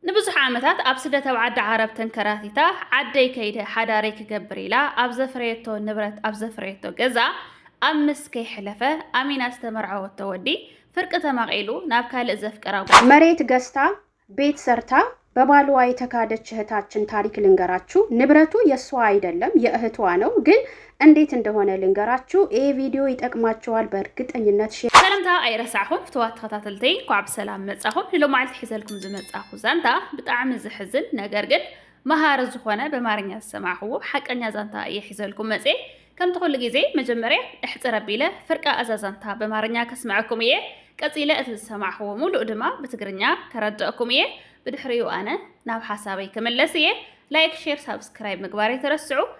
ንብዙሕ ዓመታት ኣብ ስደት ኣብ ዓዲ ዓረብ ተንከራቲታ ዓደይ ከይደ ሓዳረይ ክገብር ኢላ ኣብ ዘፍረየቶ ንብረት ኣብ ዘፍረየቶ ገዛ ኣብ ምስ ከይሕለፈ ኣሚና ዝተመርዓወቶ ወዲ ፍርቂ ተማቒሉ ናብ ካልእ ዘፍቀራ ጓል መሬት ገዝታ ቤት ሰርታ በባልዋ የተካደች እህታችን ታሪክ ልንገራችሁ። ንብረቱ የእሷ አይደለም የእህቷ ነው። ግን እንዴት እንደሆነ ልንገራችሁ ይሄ ቪዲዮ ይጠቅማችኋል በእርግጠኝነት ሼር ሰላምታ ኣይረሳዕኹም ፍትዋት ተኸታተልተይ እንኳዕ ብሰላም መጻኹም ንሎማዓልቲ ሒዘልኩም ዝመጻኹ ዛንታ ብጣዕሚ ዝሕዝን ነገር ግን መሃሪ ዝኾነ በማርኛ ዝሰማዕኹዎ ሓቀኛ ዛንታ እየ ሒዘልኩም መጼ ከምቲ ኩሉ ግዜ መጀመርያ እሕፅር ኣቢለ ፍርቃ እዛ ዛንታ በማርኛ ከስምዐኩም እየ ቀጺለ እቲ ዝሰማዕኹዎ ሙሉእ ድማ ብትግርኛ ከረድአኩም እየ ብድሕሪኡ ኣነ ናብ ሓሳበይ ክምለስ እየ ላይክ ሼር ሳብስክራይብ ምግባር የተረስዑ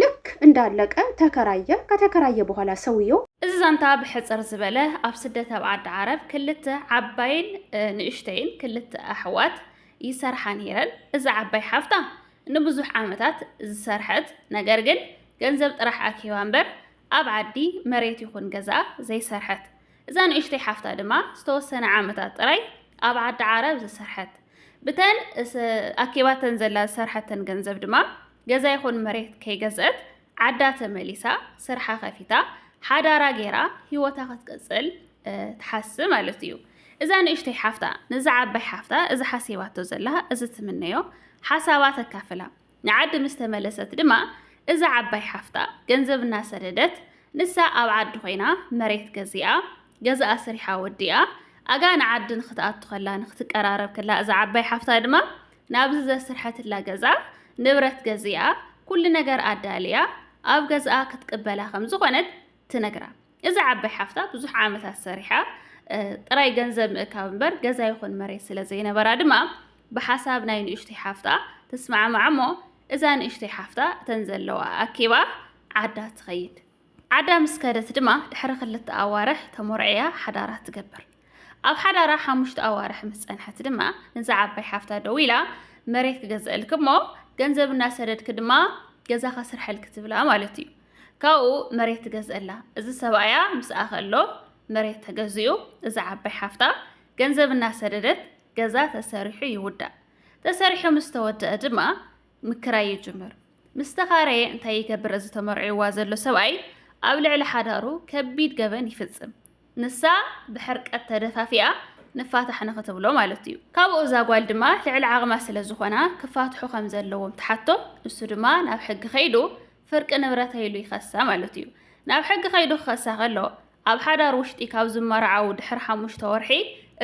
ልክ እንዳለቀ ተከራየ ከተከራየ በኋላ ሰውየው። እዚ ዛንታ ብሕጽር ዝበለ ኣብ ስደት ኣብ ዓዲ ዓረብ ክልተ ዓባይን ንእሽተይን ክልተ ኣሕዋት ይሰርሓ ነይረን። እዛ ዓባይ ሓፍታ ንብዙሕ ዓመታት ዝሰርሐት ነገር ግን ገንዘብ ጥራሕ ኣኪባ እምበር ኣብ ዓዲ መሬት ይኹን ገዛ ዘይሰርሐት እዛ ንእሽተይ ሓፍታ ድማ ዝተወሰነ ዓመታት ጥራይ ኣብ ዓዲ ዓረብ ዝሰርሐት ብተን ኣኪባተን ዘላ ዝሰርሐተን ገንዘብ ድማ ገዛ ይኹን መሬት ከይገዝአት ዓዳ ተመሊሳ ስርሓ ከፊታ ሓዳራ ገይራ ሂወታ ክትቅፅል ትሓስብ ማለት እዩ። እዛ ንእሽተይ ሓፍታ ነዛ ዓባይ ሓፍታ እዚ ሓሲባቶ ዘላ እዚ ትምነዮ ሓሳባ ተካፍላ ንዓዲ ምስ ተመለሰት ድማ እዛ ዓባይ ሓፍታ ገንዘብ እናሰደደት ንሳ ኣብ ዓዲ ኮይና መሬት ገዚኣ ገዛ ኣስሪሓ ወዲኣ ኣጋ ንዓዲ ንክትኣቱ ከላ ንክትቀራረብ ከላ እዛ ዓባይ ሓፍታ ድማ ናብዚ ዘስርሐትላ ገዛ ንብረት ገዚኣ ኩሉ ነገር ኣዳልያ ኣብ ገዝኣ ክትቅበላ ከም ዝኾነት ትነግራ። እዛ ዓባይ ሓፍታ ብዙሕ ዓመታት ሰሪሓ ጥራይ ገንዘብ ምእካብ እምበር ገዛ ይኹን መሬት ስለ ዘይነበራ ድማ ብሓሳብ ናይ ንእሽተይ ሓፍታ ትስማዕማዕ እሞ እዛ ንእሽተይ ሓፍታ እተን ዘለዋ ኣኪባ ዓዳ ትኸይድ። ዓዳ ምስ ከደት ድማ ድሕሪ ክልተ ኣዋርሕ ተሞርዕያ ሓዳራ ትገብር። ኣብ ሓዳራ ሓሙሽተ ኣዋርሕ ምስ ጸንሐት ድማ ንዛ ዓባይ ሓፍታ ደው ኢላ መሬት ክገዝእልክ እሞ ገንዘብ እናሰደድክ ድማ ገዛ ከስርሐልክ ትብላ ማለት እዩ። ካብኡ መሬት ትገዝእላ። እዚ ሰብኣያ ምስኣ ከሎ መሬት ተገዚኡ እዛ ዓባይ ሓፍታ ገንዘብ እናሰደደት ገዛ ተሰሪሑ ይውዳእ። ተሰሪሑ ምስ ተወደአ ድማ ምክራይ ይጅምር። ምስ ተኻረየ እንታይ ይገብር እዚ ተመርዒዋ ዘሎ ሰብኣይ ኣብ ልዕሊ ሓዳሩ ከቢድ ገበን ይፍጽም። ንሳ ብሕርቀት ተደፋፊኣ ንፋታሕ ንክትብሎ ማለት እዩ ካብኡ እዛ ጓል ድማ ልዕሊ ዓቕማ ስለ ዝኾና ክፋትሑ ከም ዘለዎም ትሓቶ ንሱ ድማ ናብ ሕጊ ከይዱ ፍርቂ ንብረተይ ኢሉ ይኸሳ ማለት እዩ። ናብ ሕጊ ከይዱ ክኸሳ ከሎ፣ ኣብ ሓዳር ውሽጢ ካብ ዝመርዓው ድሕሪ ሓሙሽተ ወርሒ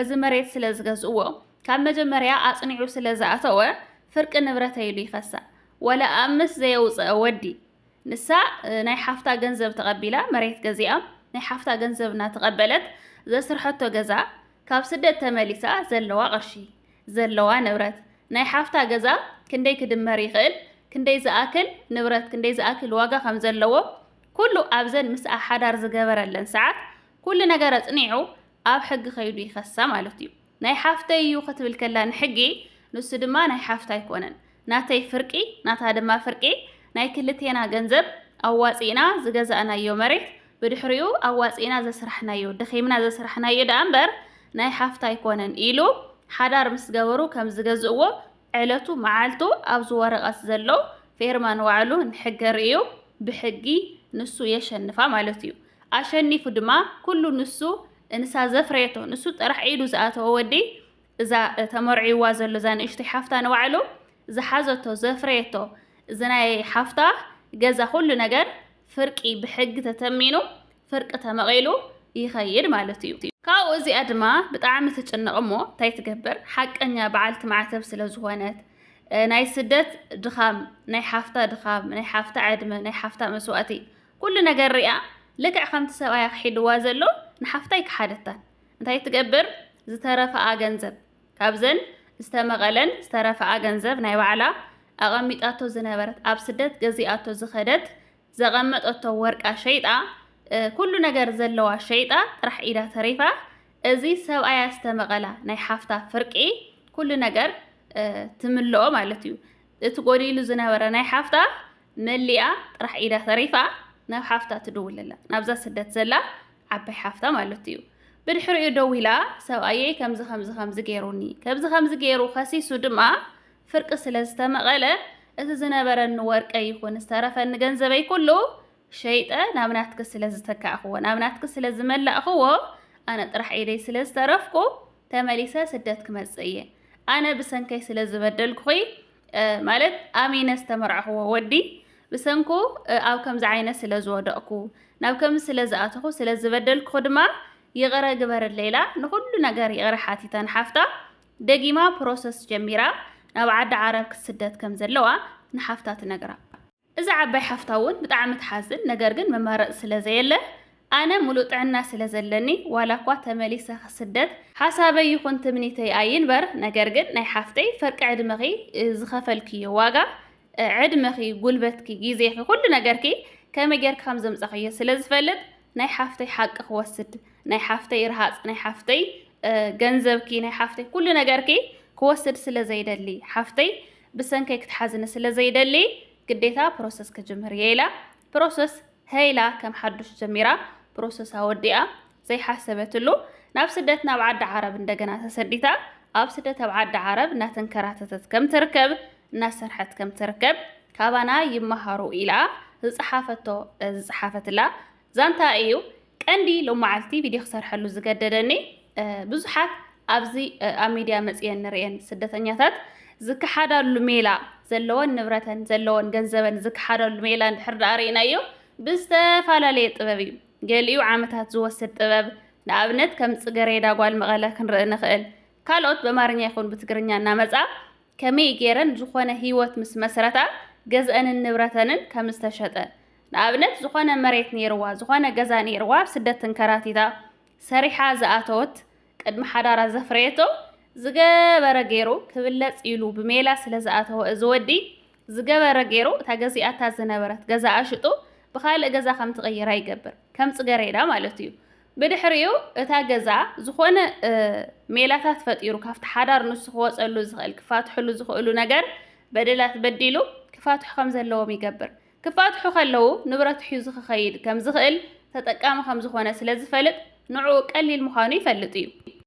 እዚ መሬት ስለ ዝገዝእዎ፣ ካብ መጀመርያ ኣጽኒዑ ስለ ዝኣተወ ፍርቂ ንብረተይ ኢሉ ይኸሳ። ወላ ኣብ ምስ ዘየውጸአ ወዲ፣ ንሳ ናይ ሓፍታ ገንዘብ ተቐቢላ መሬት ገዚኣ፣ ናይ ሓፍታ ገንዘብ እናተቐበለት ዘስርሐቶ ገዛ፣ ካብ ስደት ተመሊሳ ዘለዋ ቅርሺ፣ ዘለዋ ንብረት፣ ናይ ሓፍታ ገዛ ክንደይ ክድመር ይኽእል፣ ክንደይ ዝኣክል ንብረት፣ ክንደይ ዝኣክል ዋጋ ከም ዘለዎ ኩሉ ኣብዘን ምስኣ ሓዳር ዝገበረለን ሰዓት ኩሉ ነገር ኣጽኒዑ ኣብ ሕጊ ከይዱ ይኸሳ ማለት እዩ። ናይ ሓፍተይ እዩ ክትብል ከላ ንሕጊ ንሱ ድማ ናይ ሓፍታ ኣይኮነን ናተይ ፍርቂ ናታ ድማ ፍርቂ ናይ ክልቴና ገንዘብ ኣዋጺእና ዝገዛእናዮ መሬት ብድሕሪኡ ኣዋጺእና ዘስራሕናዮ ደኺምና ዘስራሕናዮ ደኣ እምበር ናይ ሓፍታ ኣይኮነን ኢሉ ሓዳር ምስ ገበሩ ከም ዝገዝእዎ ዕለቱ መዓልቱ ኣብዚ ወረቐት ዘሎ ፌርማ ንባዕሉ ንሕገ ርእዩ ብሕጊ ንሱ የሸንፋ ማለት እዩ ኣሸኒፉ ድማ ኩሉ ንሱ እንሳ ዘፍረየቶ ንሱ ጥራሕ ኢዱ ዝኣተወ ወዲ እዛ ተመርዕይዋ ዘሎ እዛ ንእሽቶይ ሓፍታ ንባዕሉ ዝሓዘቶ ዘፍረየቶ እዚ ናይ ሓፍታ ገዛ ኩሉ ነገር ፍርቂ ብሕጊ ተተሚኑ ፍርቂ ተመቒሉ ይኸይድ ማለት እዩ። ካብኡ እዚኣ ድማ ብጣዕሚ ትጭነቕ እሞ እንታይ ትገብር ሓቀኛ በዓልቲ ማዕተብ ስለ ዝኾነት ናይ ስደት ድኻም ናይ ሓፍታ ድኻም ናይ ሓፍታ ዕድመ ናይ ሓፍታ መስዋእቲ ኩሉ ነገር ሪኣ ልክዕ ከምቲ ሰብኣያ ክሒድዋ ዘሎ ንሓፍታ ኣይከሓደታን እንታይ ትገብር ዝተረፈኣ ገንዘብ ካብዘን ዝተመቐለን ዝተረፈኣ ገንዘብ ናይ ባዕላ ኣቐሚጣቶ ዝነበረት ኣብ ስደት ገዚኣቶ ዝኸደት ዘቐመጠቶ ወርቃ ሸይጣ ኩሉ ነገር ዘለዋ ሸይጣ ጥራሕ ኢዳ ተሪፋ እዚ ሰብኣያ ዝተመቐላ ናይ ሓፍታ ፍርቂ ኩሉ ነገር ትምልኦ ማለት እዩ እቲ ጎዲሉ ዝነበረ ናይ ሓፍታ መሊኣ ጥራሕ ኢዳ ተሪፋ ናብ ሓፍታ ትድውለላ ናብዛ ስደት ዘላ ዓባይ ሓፍታ ማለት እዩ ብድሕሪኡ ደዊላ ሰብኣየይ ከምዚ ከምዚ ከምዚ ገይሩኒ ከምዚ ከምዚ ገይሩ ከሲሱ ድማ ፍርቂ ስለ ዝተመቐለ እቲ ዝነበረኒ ወርቀ ይኹን ዝተረፈኒ ገንዘበይ ኩሉ ሸይጠ ናብ ናትኪ ስለ ዝተካእኽዎ ናብ ናትኪ ስለ ዝመላእኽዎ ኣነ ጥራሕ ኢደይ ስለ ዝተረፍኩ ተመሊሰ ስደት ክመጽእ እየ ኣነ ብሰንከይ ስለ ዝበደልኩኺ ማለት ኣሚነ ዝተመርዕኽዎ ወዲ ብሰንኩ ኣብ ከምዚ ዓይነት ስለ ዝወደቕኩ ናብ ከምዚ ስለ ዝኣተኹ ስለ ዝበደልኩ ድማ ይቕረ ግበርለይ ኢላ ንኹሉ ነገር ይቕረ ሓቲታ ንሓፍታ ደጊማ ፕሮሰስ ጀሚራ ናብ ዓዲ ዓረብ ክትስደት ከም ዘለዋ ንሓፍታ ትነግራ። እዛ ዓባይ ሓፍታ እውን ብጣዕሚ ትሓዝን ነገር ግን መማረፂ ስለ ዘየለ ኣነ ሙሉእ ጥዕና ስለ ዘለኒ ዋላ እኳ ተመሊሰ ክስደት ሓሳበይ ይኹን ትምኒተይ ኣይንበር ነገር ግን ናይ ሓፍተይ ፍርቂ ዕድመኺ ዝኸፈልክዮ ዋጋ ዕድመኺ ጉልበትኪ ግዜኺ ኩሉ ነገርኪ ከመይ ጌርኪ ከም ዘምፃኽዮ ስለ ዝፈልጥ ናይ ሓፍተይ ሓቂ ክወስድ ናይ ሓፍተይ ረሃፅ ናይ ሓፍተይ ገንዘብኪ ናይ ሓፍተይ ኩሉ ነገርኪ ክወስድ ስለ ዘይደሊ ሓፍተይ ብሰንከይ ክትሓዝኒ ስለ ዘይደሊ ግዴታ ፕሮሰስ ክጅምር እየ ኢላ ፕሮሰስ ሀይ ኢላ ከም ሓዱሽ ጀሚራ ፕሮሰስ ኣወዲኣ ዘይሓሰበትሉ ናብ ስደት ናብ ዓዲ ዓረብ እንደገና ተሰዲታ ኣብ ስደት ኣብ ዓዲ ዓረብ እናተንከራተተት ከም ትርከብ እናሰርሐት ከም ትርከብ ካባና ይመሃሩ ኢላ ዝፀሓፈቶ ዝፀሓፈትላ ዛንታ እዩ። ቀንዲ ሎማዓልቲ ቪድዮ ክሰርሐሉ ዝገደደኒ ብዙሓት ኣብዚ ኣብ ሚድያ መፅየን ንርእየን ስደተኛታት ዝከሓዳሉ ሜላ ዘለወን ንብረተን ዘለወን ገንዘበን ዝከሓዳሉ ሜላ እንድሕር ዳኣ ርኢናዮ ብዝተፈላለየ ጥበብ እዩ። ገሊኡ ዓመታት ዝወስድ ጥበብ ንኣብነት ከም ፅገሬዳ ጓል መቐለ ክንርኢ ንኽእል። ካልኦት በማርኛ ይኹን ብትግርኛ እናመፃ ከመይ ገይረን ዝኾነ ህይወት ምስ መስረታ ገዝኣንን ንብረተንን ከም ዝተሸጠ፣ ንኣብነት ዝኾነ መሬት ነይርዋ፣ ዝኾነ ገዛ ነይርዋ ኣብ ስደት ተንከራቲታ ሰሪሓ ዝኣተወት ቅድሚ ሓዳራ ዘፍረየቶ ዝገበረ ገይሩ ክብለጽ ኢሉ ብሜላ ስለ ዝኣተወ እዚ ወዲ ዝገበረ ገይሩ እታ ገዚኣታ ዝነበረት ገዛኣ ሽጡ ብኻልእ ገዛ ከም ትቕይራ ይገብር ከም ጽገሬዳ ማለት እዩ። ብድሕሪኡ እታ ገዛ ዝኾነ ሜላታት ፈጢሩ ካብቲ ሓዳር ንሱ ክወፀሉ ዝኽእል ክፋትሕሉ ዝኽእሉ ነገር በደላት በዲሉ ክፋትሑ ከም ዘለዎም ይገብር። ክፋትሑ ከለዉ ንብረት ሒዙ ክኸይድ ከም ዝኽእል ተጠቃሚ ከም ዝኾነ ስለ ዝፈልጥ ንዕኡ ቀሊል ምዃኑ ይፈልጥ እዩ።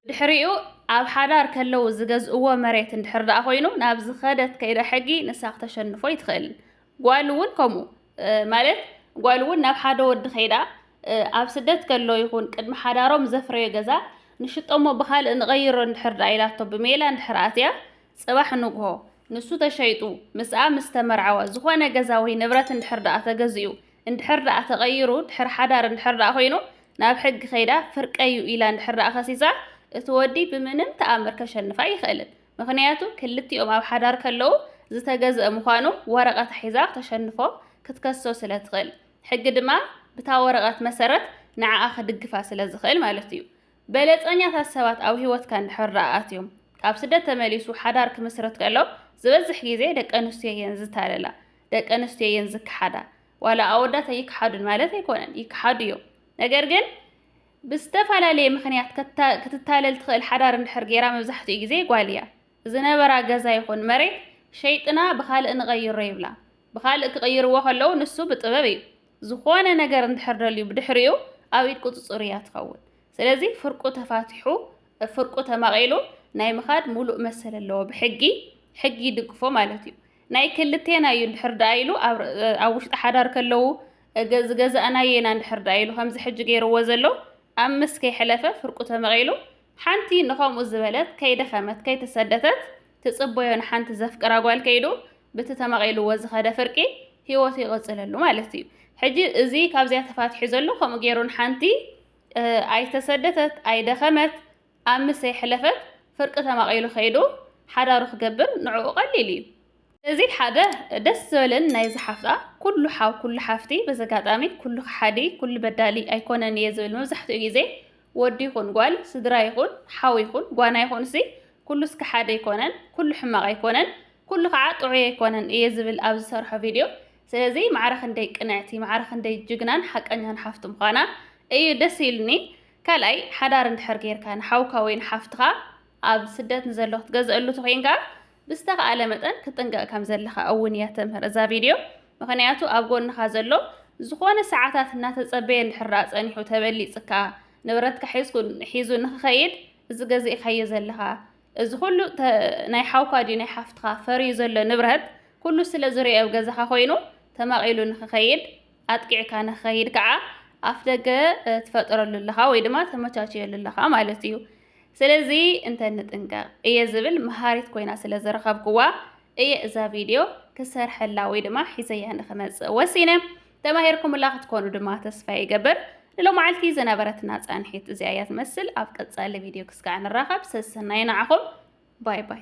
ድሕሪኡ ኣብ ሓዳር ከለዉ ዝገዝእዎ መሬት እንድሕር ደኣ ኮይኑ ናብ ዝኸደት ከይዳ ሕጊ ንሳ ክተሸንፎ ኣይትኽእልን። ጓል እውን ከምኡ ማለት ጓል እውን ናብ ሓደ ወዲ ከይዳ ኣብ ስደት ከሎ ይኹን ቅድሚ ሓዳሮም ዘፍረዮ ገዛ ንሽጦ እሞ ብኻልእ ንቐይሮ እንድሕር ደኣ ኢላቶ ብሜላ እንድሕር ኣትያ ፅባሕ ንግሆ ንሱ ተሸይጡ ምስኣ ምስ ተመርዓወ ዝኾነ ገዛ ወይ ንብረት እንድሕር ደኣ ተገዚኡ እንድሕር ደኣ ተቐይሩ ድሕሪ ሓዳር እንድሕር ደኣ ኮይኑ ናብ ሕጊ ከይዳ ፍርቀዩ ኢላ እንድሕር ደኣ ከሲሳ እቲ ወዲ ብምንም ተኣምር ከሸንፋ ኣይኽእልን። ምኽንያቱ ክልቲኦም ኣብ ሓዳር ከለዉ ዝተገዝኣ ምዃኑ ወረቐት ሒዛ ክተሸንፎ፣ ክትከሶ፣ ስለ ትኽእል። ሕጊ ድማ ብታ ወረቐት መሰረት ንዓኣ ክድግፋ ስለ ዝኽእል ማለት እዩ። በለጸኛታት ሰባት ኣብ ህይወትካ እንድሕር ደኣ ኣትዮም፣ ካብ ስደት ተመሊሱ ሓዳር ክምስርት ከሎ ዝበዝሕ ግዜ ደቂ ኣንስትዮ እየን ዝታለላ፣ ደቂ ኣንስትዮ እየን ዝከሓዳ። ዋላ ኣወዳት ኣይከሓዱን ማለት ኣይኮነን፣ ይከሓዱ እዮም። ነገር ግን ብዝተፈላለየ ምኽንያት ክትታለል ትኽእል ሓዳር እንድሕር ጌራ መብዛሕትኡ ግዜ ጓል እያ። ዝነበራ ገዛ ይኹን መሬት ሸይጥና ብኻልእ ንቐይሮ ይብላ። ብኻልእ ክቕይርዎ ከለዉ ንሱ ብጥበብ እዩ። ዝኾነ ነገር እንድሕር ደልዩ ብድሕሪኡ ኣብ ኢድ ቁጽጽሩ እያ ትኸውን። ስለዚ ፍርቁ ተፋቲሑ ፍርቁ ተማቒሉ ናይ ምኻድ ሙሉእ መሰል ኣለዎ ብሕጊ ሕጊ ይድግፎ ማለት እዩ። ናይ ክልቴና እዩ እንድሕር ደኣ ኢሉ ኣብ ውሽጢ ሓዳር ከለዉ እገ ዝገዛእናዮ ኢና እንድሕር ደኣ ኢሉ ከምዚ ሕጂ ገይርዎ ዘሎ ኣምስት ከይሐለፈ ፍርቁ ተመቒሉ ሐንቲ ንኸምኡ ዝበለት ከይደኸመት ከይተሰደተት ትጽበዮ ንሐንቲ ዘፍቅራ ጓል ከይዱ ብቲ ተመቒልዎ ዝኸደ ፍርቂ ሂወቱ ይቕጽለሉ ማለት እዩ ሕጂ እዚ ካብዚኣ ተፋቲሑ ዘሎ ከምኡ ገይሩ ንሐንቲ ኣይተሰደተት ኣይደኸመት ኣብ ምስ ዘይሐለፈት ፍርቂ ተማቂሉ ከይዱ ሐዳሩ ክገብር ንዕኡ ቀሊል እዩ። እዚ ሐደ ደስ ዝበልን ናይ እዛ ሐፍታ ኩሉ ሐው ኩሉ ሐፍቲ በዚ ኣጋጣሚ ኩሉ ከሐዲ ኩሉ በዳሊ ኣይኮነን እየ ዝብል መብዛሕትኡ ግዜ ወዲ ይኹን ጓል ስድራ ይኹን ሐው ይኹን ጓና ይኹንሲ ኩሉስ ከሐዲ ኣይኮነን ኩሉ ሕማቅ ኣይኮነን ኩሉ ከዓ ጥዑይ ኣይኮነን እየ ዝብል ኣብ ዝሰርሖ ቪድዮ ስለዚ ማዕረ ክንደይ ቅንዕቲ ማዕረ ክንደይ ጅግናን ሐቀኛን ሐፍቲ ምዃና እዩ ደስ ኢሉኒ ካልኣይ ሓዳር እንድሕር ጌርካ ንሓውካ ወይ ንሓፍትኻ ኣብ ስደት ንዘሎ ክትገዝኣሉ ተኾይንካ ብዝተኻእለ መጠን ክትጥንቀቕ ከም ዘለኻ እውን እያ ተምህር እዛ ቪድዮ ምኽንያቱ ኣብ ጎንኻ ዘሎ ዝኾነ ሰዓታት እናተጸበየ እንድሕር ደኣ ጸኒሑ ተበሊጽካ ንብረትካ ሒዝኩ ሒዙ ንኽኸይድ እዚ ገዚእካዮ ዘለኻ እዚ ኩሉ ናይ ሓውካ ድዩ ናይ ሓፍትኻ ፈርዩ ዘሎ ንብረት ኩሉ ስለ ዝርኦ ኣብ ገዛኻ ኮይኑ ተማቒሉ ንኽኸይድ ኣጥቂዕካ ንኸይድ ከዓ ኣፍ ደገ ትፈጥረሉ ኣለኻ ወይ ድማ ተመቻችየሉ ኣለኻ ማለት እዩ ስለዚ እንተ ንጥንቀቕ እየ ዝብል መሃሪት ኮይና ስለ ዝረኸብክዋ እየ እዛ ቪድዮ ክሰርሐላ ወይ ድማ ሒዘያ ንክመፅእ ወሲነ ተማሂርኩምላ ክትኮኑ ድማ ተስፋ ይገብር ንሎመዓልቲ ዝነበረትና ፃንሒት እዚኣ እያ ትመስል ኣብ ቀፃሊ ቪድዮ ክስካዕ ንራኸብ ሰሰናይ ንዓኹም ባይ ባይ